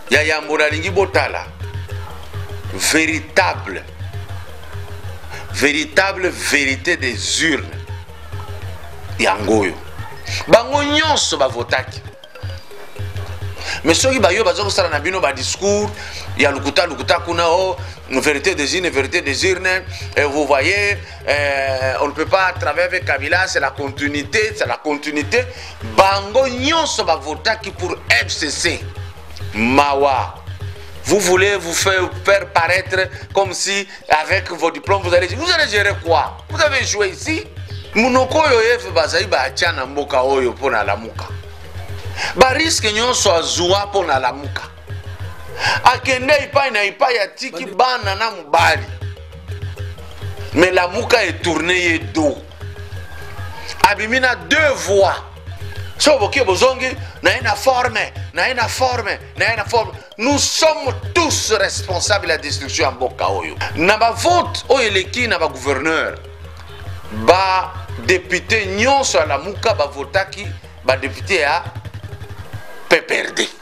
ya yambo nalingi botala véritable véritable vérité des urnes yango oyo bango nyonso bavotaki mais soki bayo baza kosala na bino badiscours ya lokuta lokuta kuna o oh, vérité des urnes vérité des urnes eh, vous voyez Euh, on ne peut pas travailler avec Kabila, c'est la continuité, c'est la continuité. Bango nyonso ba votaki pour FCC. Mawa. Vous voulez vous faire, faire paraître comme si avec vos diplômes vous allez vous allez gérer quoi Vous avez joué ici Munoko yo ef bazali ba tiana mboka oyo pona lamuka. Ba risque nyonso azua pona lamuka. akende epai na epai atiki bana na mobali me lamuka etourne ye do abimi na deux voix so boke bozongi naye na forme naye na forme naye na forme nous sommes tous responsables ya destruction ya mboka oyo na bavote oyo eleki na bagouverneur badepute nyonso ya lamuka bavotaki badepute ya pprd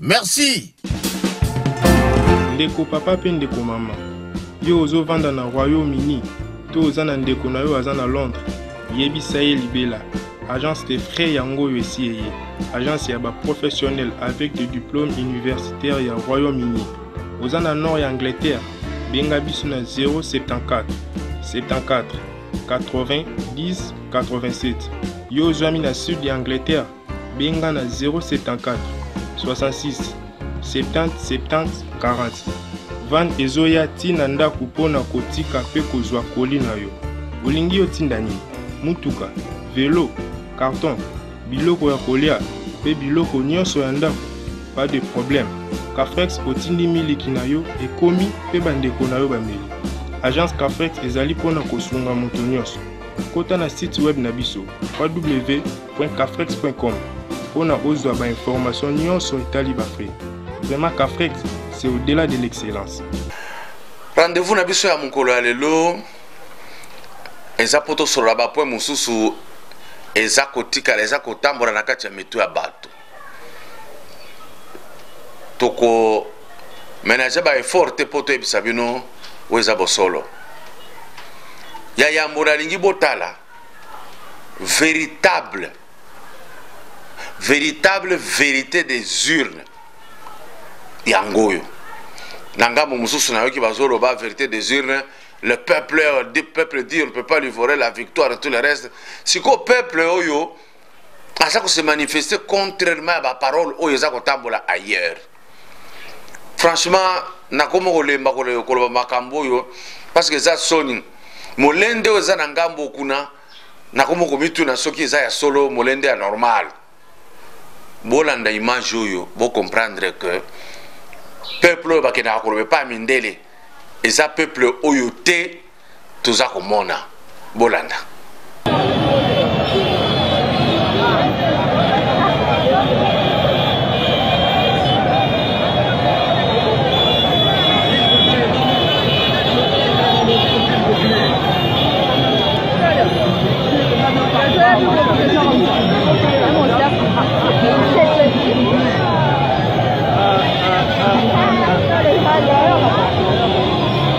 merci ndeko papa mpe ndeko mama yo ozovanda na royaume uni to oza na ndeko na yo aza na londres yebisa ye libela agence de frais yango oyo esi eye agence ya baprofessionnel avec de diplôme universitaire ya royaume uni oza na nord ya angleterre benga biso na 074 74 90 87 yo ozwami na sud ya angleterre Benga na 074 66 70 70 40. Van ezoya ti na ndako mpo na kotika mpe kozwa koli na yo. Olingi yo tinda nini? Mutuka, velo, karton, biloko ya kolia mpe biloko nyonso ya ndako? Pas de problème. Cafrex otindi miliki na yo ekomi mpe bandeko na yo bameli. Agence Cafrex ezali mpo na kosunga moto nyonso. Kota na site web na biso www www.cafrex.com mpo na ozwa ba information nyonso etali ba frais. Vraiment Cafrex, c'est au-delà de l'excellence. Rendez-vous na biso ya mokolo ya lelo eza mpo tosolola bapoint mosusu eza kotikala eza kotambola na kati ya mitu ya bato toko menage ba effort te mpo toyebisa bino oyo eza bosolo ya yambo nalingi botala veritable veritable verite des urnes yango oyo na ngambo mosusu nayoki bazoloba verite des urnes le peuple, le peuple dit on ne peut pas lui voler la victoire et tout le reste sikoyo peuple oyo aza kose manifeste contrairement ya baparole oyo eza kotambola ailleurs franchement nakomi kolemba koloba makambo oyo parce que eza soni molende oyo eza na ngambo kuna nakomi komituna soki eza ya solo molende ya normal bolanda image oyo bocomprendre que peuple oyo bakendaka koloba epai ya mindele eza peuple oyo te toza komona bolanda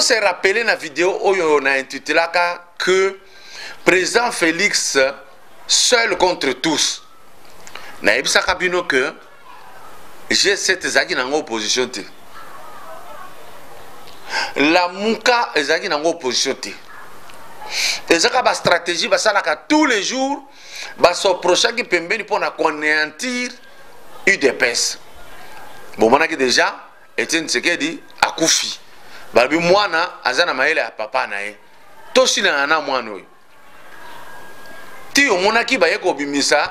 On se rappeler na vidéo oyo na intitulaka que président Félix seul contre tous. Na ebisaka bino que G7 ezalaki nango opposition te lamuka ezalaki nango opposition te ezaka bastratégie basalaka tous les jours basoprochaki pembeni mpo na koaneantir udps bomonaki déjà etienne tsekedi akufi balobi mwana aza na mayele ya papa na ye tosilana na mwana oyo ti omonaki baye kobimisa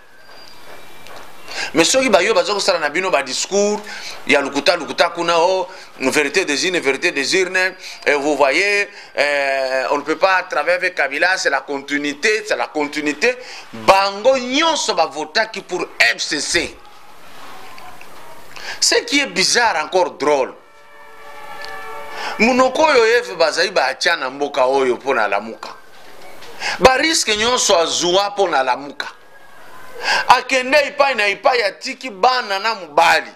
mais soki bayo baza kosala na bino badiscours ya lokuta lokuta kuna o oh, vérité des urnes vérité des urnes et vous voyez euh, on ne peut pas travailler avec kabila c'est la continuité c'est la continuité bango nyonso bavotaki pour fcc ce qui est bizarre encore drôle monoko oyo eve bazali batya na mboka oyo mpo na lamuka bariske nyonso azwa mpo na lamuka akende epai na epai atiki bana na mobali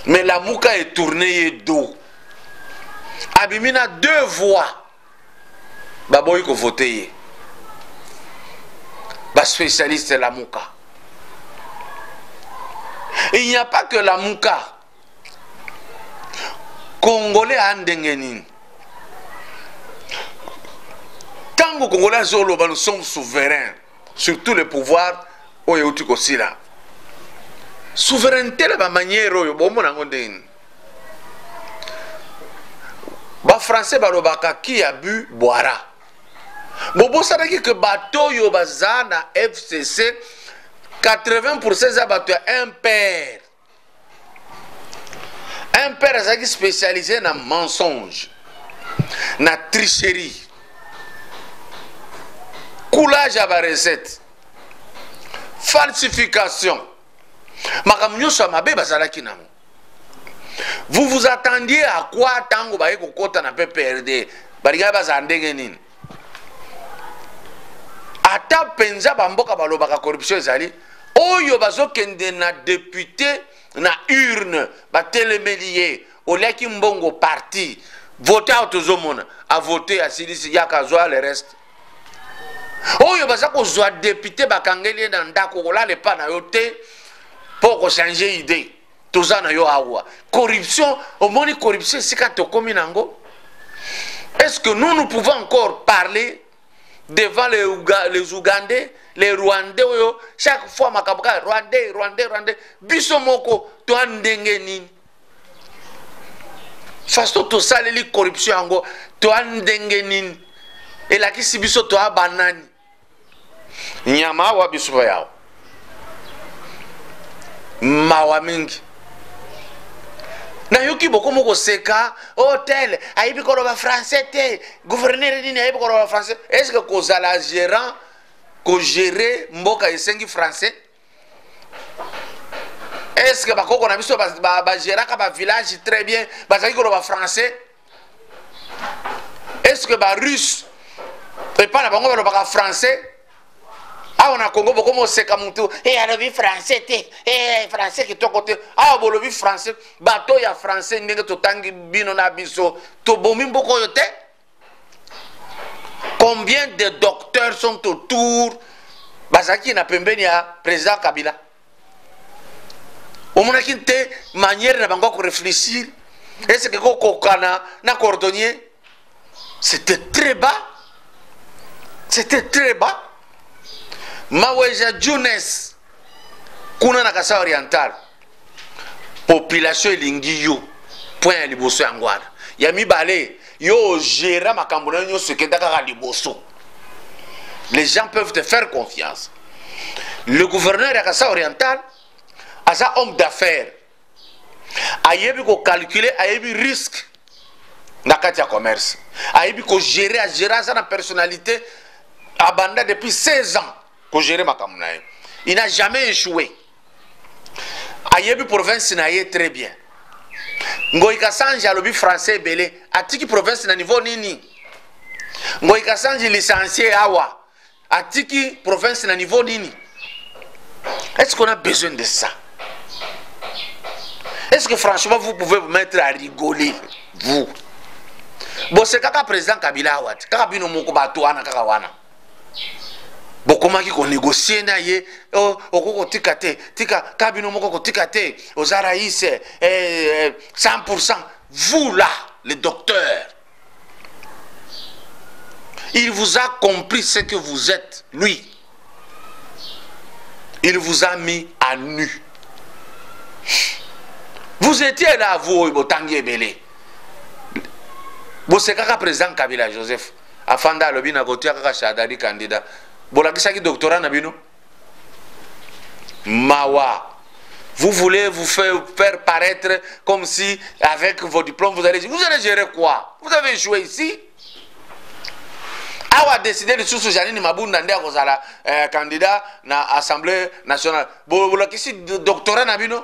me lamuka etourne ye do abimi na deux voix baboyi kovote ye baspécialiste lamuka il n'y a pas que lamuka congolais a ndenge nini ntango congolais azoloba nous sommes souverain sur tout le pouvoir oyo euti kosila souveraineté na bamaniere oyo bomona yango ndenge nini bafrançais balobaka ki ya bu bwara bobosanaki ke bato oyo baza na fcc 80 eza bato ya impere un père azalaki spécialisé na mensonge na tricherie coulage ya barecette falsification makambo nyonso ya mabe bazalaki nango vous vous attendiez à quoi ntango baye kokɔta na pprd balingaki bazala ndenge nini ata mpenza bamboka balobaka corruption ezali oyo bazokende na depute na urne batelemeli ye oliaki mbongo parti vote awa tozomona avote asilisi yaka azwa le reste oyo baza kozwa depute bakangeli ye na ndako kolala epa na yo te mpo okochange idee toza na yo awa corruption omoni corruption esika tokomi na yango est ce que nous nous pouvons encore parler devant les, Ouga, les ougandais les rwandais oyo chaque fois makambo kaka rwandais rwandais rwandais biso moko toa ndenge nini faso tosaleli corruption yango toa ndenge nini elakisi biso toa banani nyama awa bisuka yawo mawa mingi nayoki bokomi koseka hotel oh, ayebi koloba français te gouverneur nini ayebi koloba français est ce que kozala gérant kogere mboka esengi français est ce que bakoko na biso bageraka ba, ba bavillage très bien bazalaki koloba français est ce que ba russe epai na bango balobaka français awa na congo bokoma oseka motu e eh, alobi français te e eh, français kitoko te awa bolobi français bato ya français ndenge totangi bino na biso tobomi mboka oyo te combien de docteurs sont autour bazalaki na pembeni ya président kabila omonaki te manière na bango ya korefléchir eseke kokokana na cordonnier c'était très bas c'était très bas maweja junes kuna na kasa oriental population elingi yo point ya liboso yango wana ya mibale yo ogera makambo na yo nyonso ekenda kaka liboso les gens peuvent te faire confiance le gouverneur ya kasa oriental aza homme d'affaires ayebi kocalcule ayebi risque na kati ya commerce ayebi kogere agere aza na personnalité abanda depuis 16 ans ko gérer makambo na ye il n'a jamais échoué ayebi province na ye très bien ngoi kasanji alobi français ebele atiki province na niveau nini ngoi kasanji licencie awa atiki province na niveau nini est ce qu'on a besoin de ça est ce que franchement vous pouvez vous mettre à rigoler vous bosekaka président kabila awa te kaka bino moko bato wana kaka wana bokomaki konegocie na ye oh, okoki kotika te tika ka bino moko kotika te oza rais eh, eh, 100 vous là le docteur il vous a compris ce que vous êtes lui il vous a mis à nu vous étiez là vous oyo botangi ebele bosekaka président kabila joseph afanda alobi na kotia kaka shadadi kandida bolakisaki doktora na bino mawa vous voulez vous faire, faire paraître comme si avec vos diplômes vous allez vous allez gérer quoi vous avez joué ici awa décidé lisusu janine mabunda nde akozala eh, candidat na assemblée nationale bolakisi doctorat na bino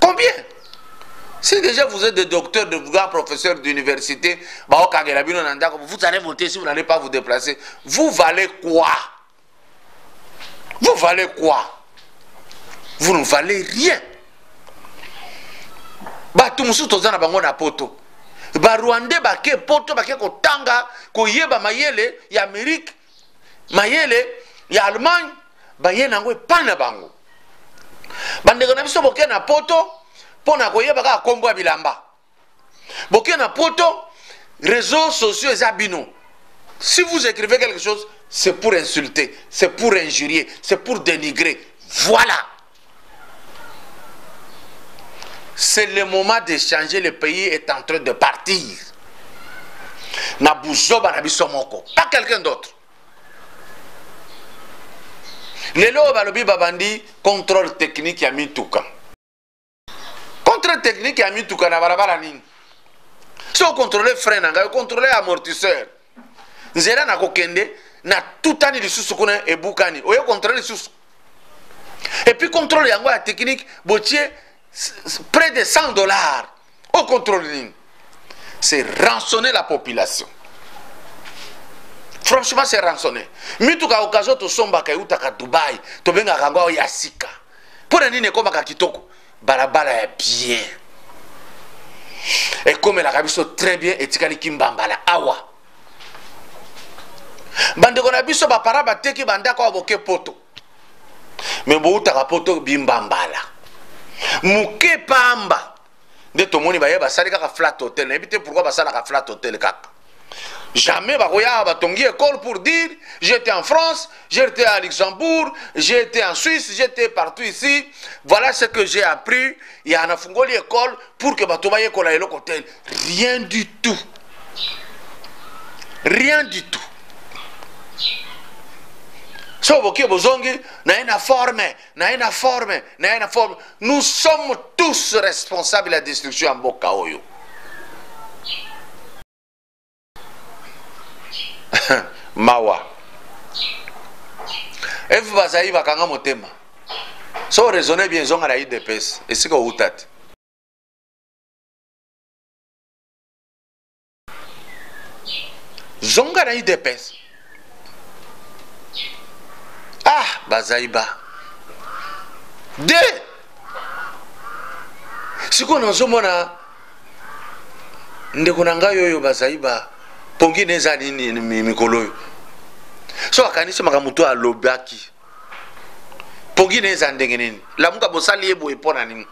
Combien Si déjà vous êtes des docteurs, de grands professeurs d'université, vous allez voter si vous n'allez pas vous déplacer. Vous valez quoi Vous valez quoi Vous ne valez rien. bato mosusu toza na bango na poto barwandais bake poto bake kotanga koyeba mayele ya amerike mayele ya allemagne baye na yango epai na bango bandeko na biso boke na poto mpo na koyeba kaka nkombo ya bilamba boke na poto réseaux sociaux eza bino si vous écrivez quelque chose c'est pour insulter c'est pour injurier c'est pour dénigrer voilà C'est le moment de changer, le pays est en train de partir. Na buzoba na biso moko, pas quelqu'un d'autre. lelo oyo balobi babandi contrôle technique ya mituka contrôle technique ya mituka na balabala nini so ocontrole frein na ngai ocontrole amortisseur nzela na kokende natutani lisusu kuna ebukani oye controle lisusu et puis contrôle yango ya technique botie près de 100 dollars au contrôle nini c'est rançonner la population franchement c'est rançonner mituka occasion tosombaka eutaka dubai tobengaka yango ao ya sika mpo na nini ekomaka kitoko balabala ya bien ekomelaka biso très bien etikali kimbambala awa bandeko na biso bapara bateki bandako ya boke poto me boutaka poto bimba mbala moke pamba nde tomoni baye basali kaka flat hotel nayebi te pourkui basalaka flat hotel kaka jamais bakoya batongi école pour dire j'étais en france j'étais à luxembourg j'étais en suisse j'étais partout ici voilà ce que j'ai appris ya nafungoli école pour que bato bayekola eloko te rien du tout rien du tout so boke bozongi naye na forme naye na forme naye na forme nous sommes tous responsables ya destruction ya mboka oyo mawa efu bazali bakanga motema so raisonne bien ezonga na idps esika outa te zonga na idps ah bazali ba de sikoyo nazomona ndeko na ngai oyo bazali ba pongi na eza nini mikolo oyo so akanisi makambo to alobaki pogi na eza ndenge nini lamuka bosali ye boye mpo na nini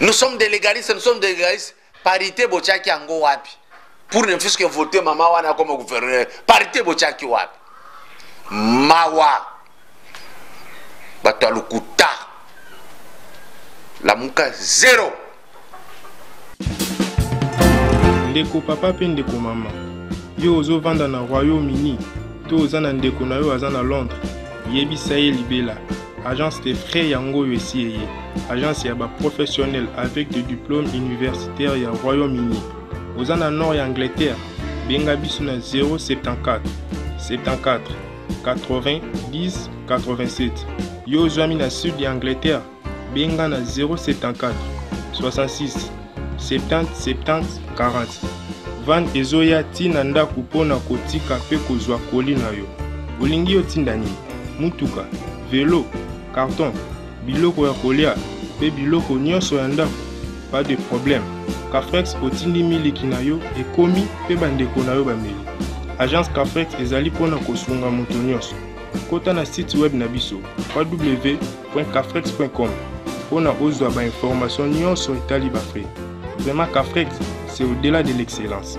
nous sommes des légalistes nous sommes des légalistes parité botyaki yango wapi pour ne fût-ce que voter mama wana akoma gouverneur parité botyaki wapi mawa bato ya lokuta lamuka zero ndeko papa mpe ndeko mama yo ozovanda na royaume uni to oza na ndeko na yo aza na londres yebisa ye libela agence de frais yango oyo esi eye agence ya baprofessionnel avec de diplôme universitaire ya royaume uni oza na nord ya angleterre benga biso na 074 74 80 10 87 yo ozwami na sud ya angleterre Benga na 074 66 70 70 40. Van ezoya ti na ndako mpo na kotika mpe kozwa koli na yo. Olingi yo tinda nini? Mutuka, velo, carton, biloko ya kolia mpe biloko nyonso ya ndako? Pas de problème. Cafrex otindi miliki na yo ekomi mpe bandeko na yo bameli. Agence Cafrex ezali mpo na kosunga moto nyonso. Kota na site web na biso www www.cafrex.com mpo na ozwa ba information nyonso etali ba frais. Vraiment Cafrex, c'est au-delà de l'excellence.